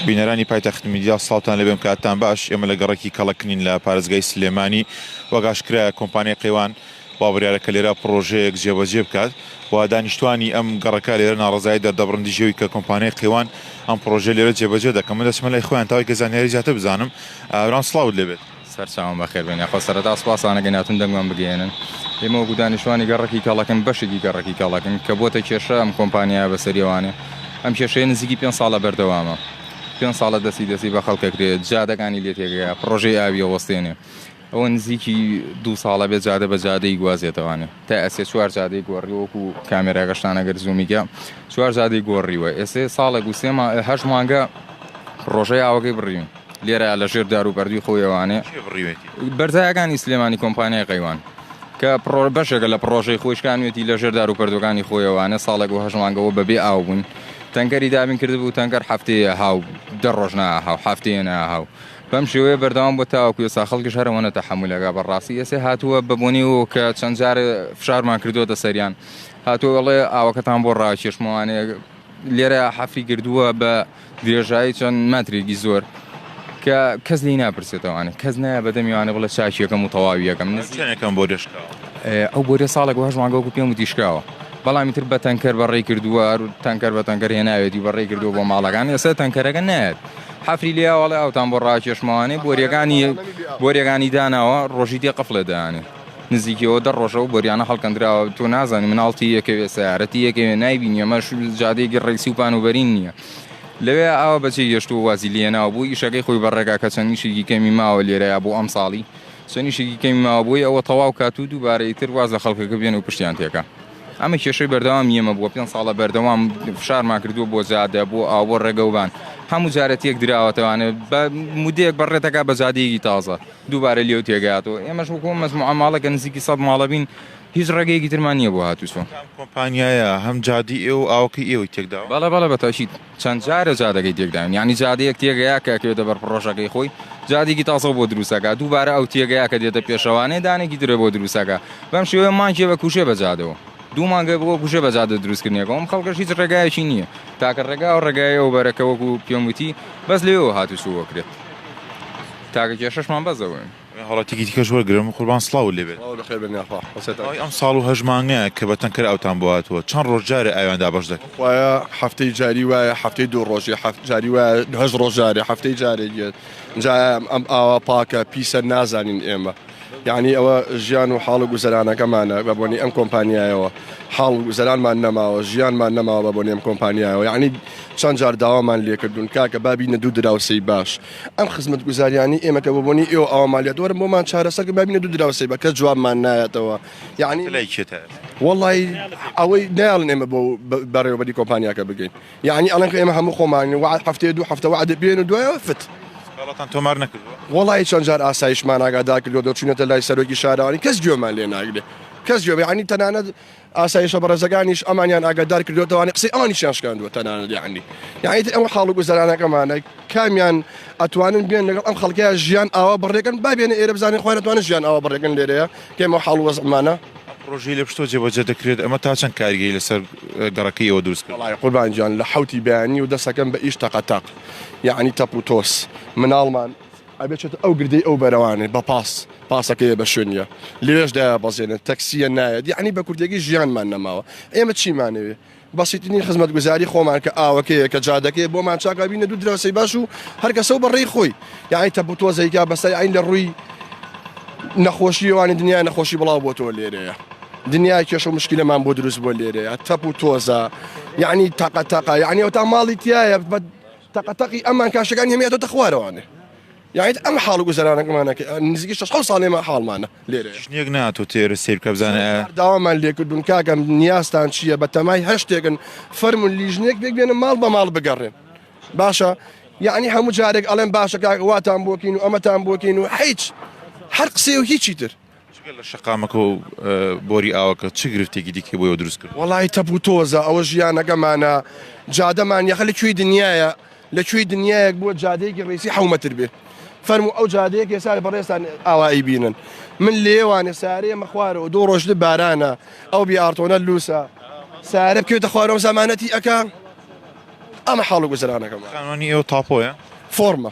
بینەرانی پایتەخت میدیا ساڵتان لەبێم کاتتان باش ئێمە لە گەڕێکی کەڵەکنین لە پارێزگای سلێمانی وەگاشکرایە کۆمپانیای قەیوان با بڕیارەکە لێرا پڕۆژەیەک جێبەجێ بکات و دانیشتوانی ئەم گەڕەکە لێرە ناڕزایی دەردەبڕندی ژێوی کە کۆمپانیای قەیوان ئەم پڕۆژە لێرە جێبەجێ دەکەم من دەچمە لای خۆیان تاوای کە زانیاری زیاتر بزانم ئاراان سلااوت لەبێت. سەرچاوم بەخێربێن یاخوا سەرەتا سوپاسانەکەین هاتوون دەنگمان بگەیەنن ئێمە وەکو دانیشتوانی گەڕەکی کەڵەکن بەشێکی گەڕەکی کەڵەکن کە بووەتە کێشە ئەم کۆمپانیایە بەسەری ئەوانێ ئەم کێشەیە نزیکی پێنج ساڵە بەردەوامە پێنج ساڵە دەستی دەستی بە خەڵک ئەکرێت جادەکانی لێ تێکەیە پڕۆژەی ئاوی ئەوەستێنێ ئەوە نزیکی دوو ساڵە بێت جادە بە جادەی گوازێتەوانێ تا ئەسێ چوار جادەی گۆڕی وەکو کامێراگەشتان ئەگەر زوومیکە چوار جادەی گۆڕیوە ئێسێ ساڵێک و سێ مانگ هەشت مانگە پڕۆژەی ئاوەکەی بڕیون لێرە لە ژێر دار و بەردووی خۆیەوانێ کێ بڕیوێتی؟ بەرزایەکانی سلێمانی کۆمپانیای قەیوان کە پڕۆ بەشێکە لە پڕۆژەی خۆی شکانوێتی لە ژێر دار و پەردووەکانی خۆیەوانێ ساڵێک و هەشت مانگەوە بەبێ ئاو بووین تەنکەری دابین کردبوو تەنکەر هەفتەیە ها و دە ڕۆژ ناها و هەفتەیە ناها و بەم شێوەیە بەردەوام بۆ تاوەکو ئێستا خەڵکیش هەرەوەنە تەحەمولەکە بەڕاستی ئێسێ هاتووە بە بۆنی و کە چەند جارە فشارمان کردووەتە سەریان هاتووەڵێ ئاوەکەتان بۆ ڕاکێشمەوانێ لێرە حەفری کردووە بە درێژایی چەند مەترێکی زۆر کە کەس لی ناپرسێتەوانە کەس نایە بەدەمیوانە بڵە چاکیەکەم و تەواویەکەم نزیەکەم بۆ دەشکا ئەو بۆرە ساڵێک وهش ماگەوەکو پێم و دیشکاوە بەڵامی تر بە تەنکەر بەڕێی کردووە تەنکەر بە تەنکەر هێناوێتی بەڕێ کردو بۆ ماڵەکان ێستا تەنکەرەکە نایێت حەفری لێواڵێ ئەوتان بۆ ڕاکێشمەوانێ بۆریەکانی بۆریەکانی داناوە ڕۆژی دێ قفلێ دانێ نزیکی ئەوە دە ڕۆژە ئەو بۆریانە هەڵکەندراوە، تۆ نازانی مناڵ تی ئەکەوێ، سەیارە تی ئەکەوێ، نایبینی، ئەمەش جادەیەکی ڕیسی و پان و بەرین نییە. لەوێ ئاوا بە چێ گەشتووە وازی لێناوە، بۆ ئیشەکەی خۆی بە ڕێگا کە چەند ئیشێکی کەمی ماوە لێرەیا بۆ ئەمساڵی، چەند ئیشێکی کەمی ماوە بۆی ئەوە تەواو کات و دووبارە ئیتر واز لە خەڵکەکە بێنێ و پشتیان تێکا. ئەمە کێشەی بەردەوامی ئێمە بووە، پێنج ساڵە بەردەوام فشارمان کردووە بۆ جادە، بۆ ئاو، بۆ ڕێگەوبان، هەموو جارە تێکدراوەتەوانێ، بە مودەیەک بە ڕێ دەکا بە جادەیەکی تازە. دووبارە لێو تێگەیاتەوە ئێمەش وەکو ئەم مەجموعە ماڵە کە نزیکی سەد ماڵە بین هیچ ڕێگەیەکی ترمان نییە بۆ هاتووچۆ. کام کۆمپانیایە هەم جادەی ئێوە و ئاوەکەی ئێوەی تێک داوە؟ بەڵێ بەڵێ بە تاکید چەند جارە جادەکەی تێک داوین یانی جادەیەک تێگەیا کە ئەکەوێتە بەر پڕۆژەکەی خۆی جادێکی تازە بۆ دروست ئەکا دووبارە ئەو تێگەیا کە دێتە پێشەوانێ دانێکی درێ بۆ دروست ئەکا بەم شێوەیە مانگێ بە کوژێ بە جادەوە دوو مانگێ بۆ کوژێ بە جادە دروستکردنێکەوە ئەم خەڵکەش هیچ ڕێگایەکی نییە تاکە ڕێگا و ڕێگایەوە بەرەکە وەکو پێم وتی بەس لێوە هاتووچۆ بکرێت. تاکە کێشەشمان بەس ئەوەین. ئەمێ هەڵەتیکی دیکەش وەرگرم قوربان سڵاوت لێ بێت. سڵاوت بەخێر بێن یاخوا حەسرەت ئەکەم. ماوەی ئەم ساڵ و هەشت مانگە کە بە تەنکەر ئاوتان بۆ هاتووە چەند ڕۆژ جارێ ئاویان دابەش دەکەن؟ خوایە هەفتەی جاری وایە هەفتەی دوو ڕۆژێ هەفت جاری وایە هەشت ڕۆژ جارێ هەفتەی جارێک یەت جا ئەم ئاوە پاکە پیسە نازانین ئێمە یعنی ئەوە ژیان و حاڵ و گوزەرانەکەمانە بە بۆنی ئەم کۆمپانیایەوە حاڵ و گوزەرانمان نەماوە ژیانمان نەماوە بە بۆنی ئەم کۆمپانیایەوە یعنی چەند جار داوامان لێکردوون کاکە با بینە دوو دراوسێی باش ئەم خزمەتگوزاریانەی ئێمە کە بەبۆنەی ئێوە ئاوا مالیات وەرن بۆمان چارەسەر کە بابینە دوو دراوسێ بە کەس جوابمان نایەتەوە یعنی تە لای کێتە ئێستا وەڵی ئەوەی نایڵن ئێمە بۆ بە- بەڕێوەبەری کۆمپانیاکە بگەین یعنی ئەڵەن کە ئێمە هەموو خۆمان وعد هەفتەیە دوو هەفتە وعدە پێن و دوایەوە فت سکاڵاتان تۆمار نەکردووە وەڵی چەند جار ئاسایشمان ئاگادار کردووە دەچوینەتە لای سەرۆکی شارەوانی کەس گوێمان لێ ناگرێ کەس گوێ یعنی تەنانەت ئاسایشە بەڕێزەکانیش ئەمانیان ئاگادار کردوێتەوانی قسەی ئەوانیشیان شکاندووە تەنانەت یعنی یعنی ئەوە حاڵ و گوزەرانەکەمانە کامیان ئەتوانن بێن لەگەڵ ئەم خەڵکەیە ژیان ئاوا بڕێکن با بێنە ئێرە بزانین خۆیان ئەتوانن ژیان ئاوا بڕێکن لێرەیە کێمە حاڵ وەزعمانە پرۆژەی لە پشتۆ جێبەجێ دەکرێت ئەمە تا چەند کارگەی لەسەر گەڕەکەی ئەوە دروست کرد وڵای قوربانجان لە حوتی بەیانی و دەسەکەم بە ئیش تەقەتەق یعنی تەپ و تۆس مناڵمان ئەبێ چێتە ئەو گردەی ئەو بەرەوانێ بە پاس پاسەکەیە بە شوێنیە لەوێش دایابەزێنن تەکسیە نایەت یعنی بە کوردێکی ژیانمان نەماوە ئێمە چیمانەوێ بەسیتنی خزمەتگوزاری خۆمان کە ئاوەکەیە کە جادەکەی بۆمان چاکا بینە دوو دراوسی باش و هەرکەسە و بەڕێی خۆی یعنی تە بتۆزەیکا بەسای ئەین لە ڕووی نەخۆشیوانی دنیا نەخۆشی بڵاو بۆ تۆ لێرەیە دنیا کێش و مشکلەمان بۆ دروست بۆ لێرەیە تەپ و تۆزە یعنی تاقە تاقا یعنی ئەو تا ماڵی تایە بە تەقە تەقی ئەمان کاشەکانی هەمە دەتە خوارەوانێ یاعیت ئەم حاڵ گوزەرانەکەمانەکە نزیکی شەش ساڵێ ما حاڵمانە لێرە شتێک ناتۆ تێر سیر کە بزانە داوامان لێکردون کاکەم نیازتان چییە بە تەمای هەشتێکن فەرمون لیژنێک پێک بێنە ماڵ بە ماڵ بگەڕێن باشە یعنی هەموو جارێک ئەڵێن باشەکە واتان بۆکین و ئەمەتان بۆکین و حیچ هەر قسێ و هیچی تر جگە لە شەقامەکە و بۆری ئاوەکە چ گرفتێکی دیکەی بۆیەوە دروست کرد؟ وەڵای تەپ و تۆزە ئەوە ژیانەکەمانە جادەمان یەخە لە کوێی دنیاە لە کوێی دنیایەک بووە جادەیەکی ڕێسی حومەتر بێ فەرمو ئەو جادەیەک ێسا بەڕێستان ئاوایی بینن من لێوانە سارێ مەخوارەوە دوو ڕۆژ بارانە ئەو بیارتۆنە لوسە سارە بکوێتە خوارەوە زمانەتی ئەەکە ئەمە حاڵ گوزرانەکەم خانوانی ئێوە تاپۆیە فۆرمە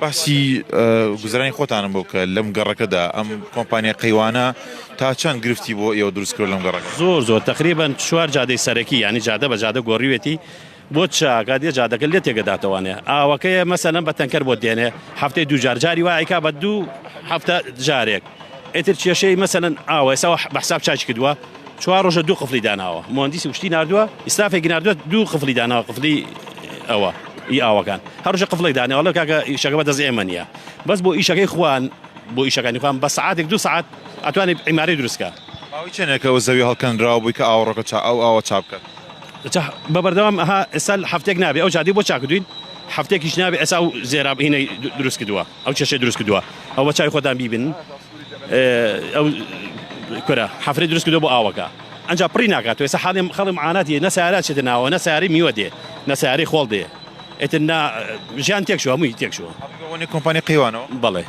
باسی گوزەرانی خۆتانم بۆ بکە لەم گەڕەکەدا ئەم کۆمپانیا قەیوانە تا چەند گرفتی بۆ ئێوە دروست کرد لەم گەڕەکە؟ زۆر زۆر تەقریبەن چوار جادەی سەرەکی یانی جادە بە جادە گۆریوێتی بۆ چاکە دێ جادەکە لێ تێگە داتەوانێ ئاوەکەیە مەسەلەن بە تەنکەر بۆ دێنێ هەفتەی دوو جار جاری وایکا بە دوو هەفتە جارێک ئیتر کێشەی مەسەلەن ئاوە ئێستا بە حساب چاکی کردووە چوار ڕۆژە دوو قفلی داناوە مهندسی وشتی نردووە ئیسرافێکی نردووە دوو قفلی داناوە قفلی ئەوە ئی ئاوەکان هەرژە قفلێک داناوە لە کاکە ئیشەکە بە دەست ئێمە نییە بەس بۆ ئیشەکەی خوان بۆ ئیشەکانی خوان بە سعاتێک دو سعات ئەتوانێت عیماری دروستکە چێنەکە و زەوی هەڵکەنراوە بووی کە ئاوڕەکە چا ئەو ئاوە چاپ بکات بە بەردەوام ئەها ئێستا هەفتێک نابێ ئەو جادی بۆ چاکردوین هەفتێکیش نابێ ئێسا و زێرابینەی دروست کردووە ئەو کێشەی دروست کردوە ئەو بەچاوی خۆتان بیبن ئەو کورە حەفرەی دروست کردوە بۆ ئاوەکە ئەجا پڕی ناکات وێسە حاڵی خەڵی معاناتی نە سیارە چێتە ناوە نە سیارەی میوە دێ نە سیارەی خۆڵ دێ ئێتر نا ژیان تێکشوە هەمووی تێکشوە ئەوەنی کۆمپانی قەیوانەوە بەڵێ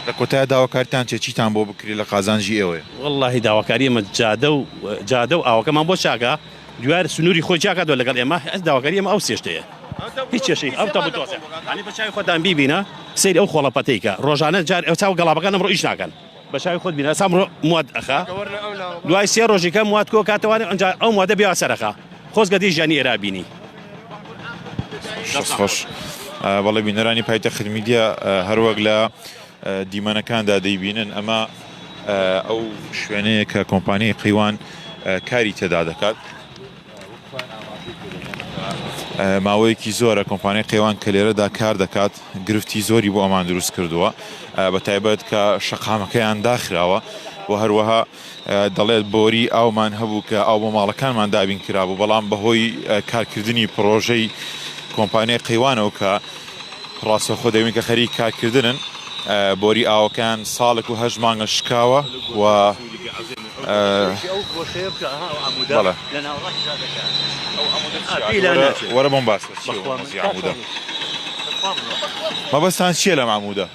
لە کۆتای داواکارتان چێ چیتان بۆ بکری لە قازانجی ئێوەیە واللهی داواکاری ئێمە جادە و جادە و ئاوەکەمان بۆ چاکە دویار سنوری خۆی جیا کاتەوە لەگەڵ ئێمە ئەز داواکاری ئێمە ئەو سێشتەیە هیچ کێشەی ئەو تەبو تۆزێ هەنی بە چاوی خۆتان بیبینە سەیری ئەو خۆڵە پەتەی کە ڕۆژانە جار ئەو چاو گەڵابەکان ئەمڕۆ ئیش ناکەن بە چاوی خۆت بینە سامڕۆ مواد ئەخا دوای سێ ڕۆژی کە مواد کۆ کاتەوانێ ئەنجا ئەو موادە بیا سەرەخا خۆزگە دی ژیانی ئێرا بینی خۆش بەڵێ بینەرانی پایتە خرمیدیا هەروەک لە دیمەنەکاندا دەیبینن، ئەمە ئەو شوێنەیە کە کۆمپانیای قەیوان کاری تێدا دەکات. ماوەیەکی زۆرە کۆمپانیای قەیوان کە لێرەدا کار دەکات گرفتی زۆری بۆ ئەمان دروست کردووە بە تایبەت کە شەقامەکەیان داخراوە و هەروەها دەڵێت، بۆری ئاومان هەبوو کە ئاو بۆ ماڵەکانمان دابین کرابوو، بەڵام بەهۆی کارکردنی پڕۆژەی کۆمپانیای قەیوانەوە کە ڕاستەوخۆ دەبین کە خەریک کارکردنن، بۆری ئاوەکەیان ساڵێک و هەشت مانگە شکاوە و مەبەستتان چییە لەم عەموودە؟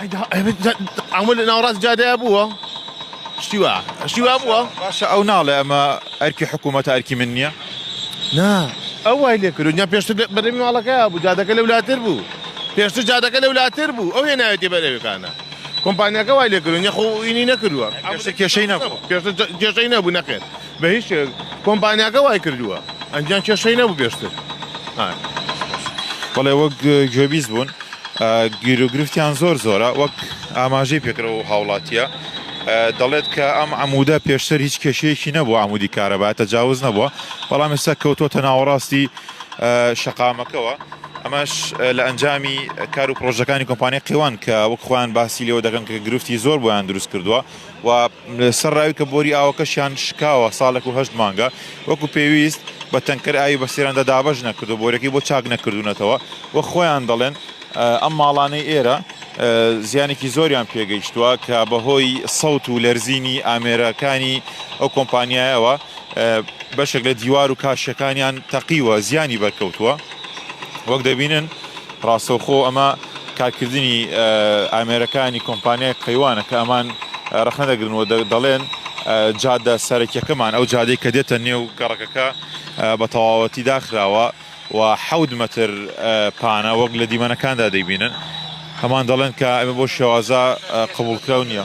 ئەیدا ئەمە لە ناوەڕاست جادەیە بووە شتی وا شتی وا بووە باشە ئەو ناڵێ ئەمە ئەرکی حکوومەتە ئەرکی من نییە نا ئەو وای لێ کرد یا پێشتر بەرەمی ماڵەکە بوو جادەکە لە ولاتر بوو پێشتر جادەکە لە ولاتر بوو ئەو هێناوێتی بەرەوەکانە کۆمپانیەکە وای لێ کرد یخۆ ئینی نەکردووە کێشەی نەبوو کێشەی نەبوو نەخێت بە هیچ شێوەیەک کۆمپانیاکە وای کردووە ئەنجیان کێشەی نەبوو پێشتر بەڵێ وەک گوێبیست بوون گیر و گرفتیان زۆر زۆرە وەک ئاماژەی پێکرەوە و هاوڵاتیە دەڵێت کە ئەم عمودە پێشتر هیچ کێشەیەکی نەبوو عمودی کارەبا تەجاوز نەبووە بەڵام ئێستا کەوتوتە ناوەڕاستی شەقامەکەەوە ئەمەش لە ئەنجامی کار و پرۆژەکانی کۆمپانی قیوان کە وەک خۆیان باسی لەوە دەکەن کە گرفتی زۆر بۆیان دروست کردووە و سەر راوی کە بۆری ئاوەکەشیان شکاوە ساڵێک و هەشت مانگە وەکو پێویست بە تەنکەر ئاوی بە سرێندا دابەش نەکردووە، بۆریەکەی بۆ چاک نەکردوونەتەوە و خۆیان دەڵێن ئەم ماڵانەی ئێرە زیانێکی زۆریان پێگەیشتووە کە بەهۆی سەوت و لەرزینی ئامێرەکانی ئەو کۆمپانیایەوە بەشێک لە دیوار و کاشیەکانیان تەقیوە زیانی بەرکەوتووە وەک دەبینن ڕاستەوخۆ ئەمە کارکردنی ئامێرەکانی کۆمپانیای قەیوانە کە ئەمان ڕخنە دەگرن و دەڵێن جادە سەرەکیەکەمان ئەو جادەی کە دێتە نێو گەڕەکەکە بە تەواوەتی داخراوە و حەوت مەتر پانە وەک لە دیمەنەکاندا دەیبینن هەمان دەڵێن کە ئەمە بۆ شێوازە قبولکراو نییە.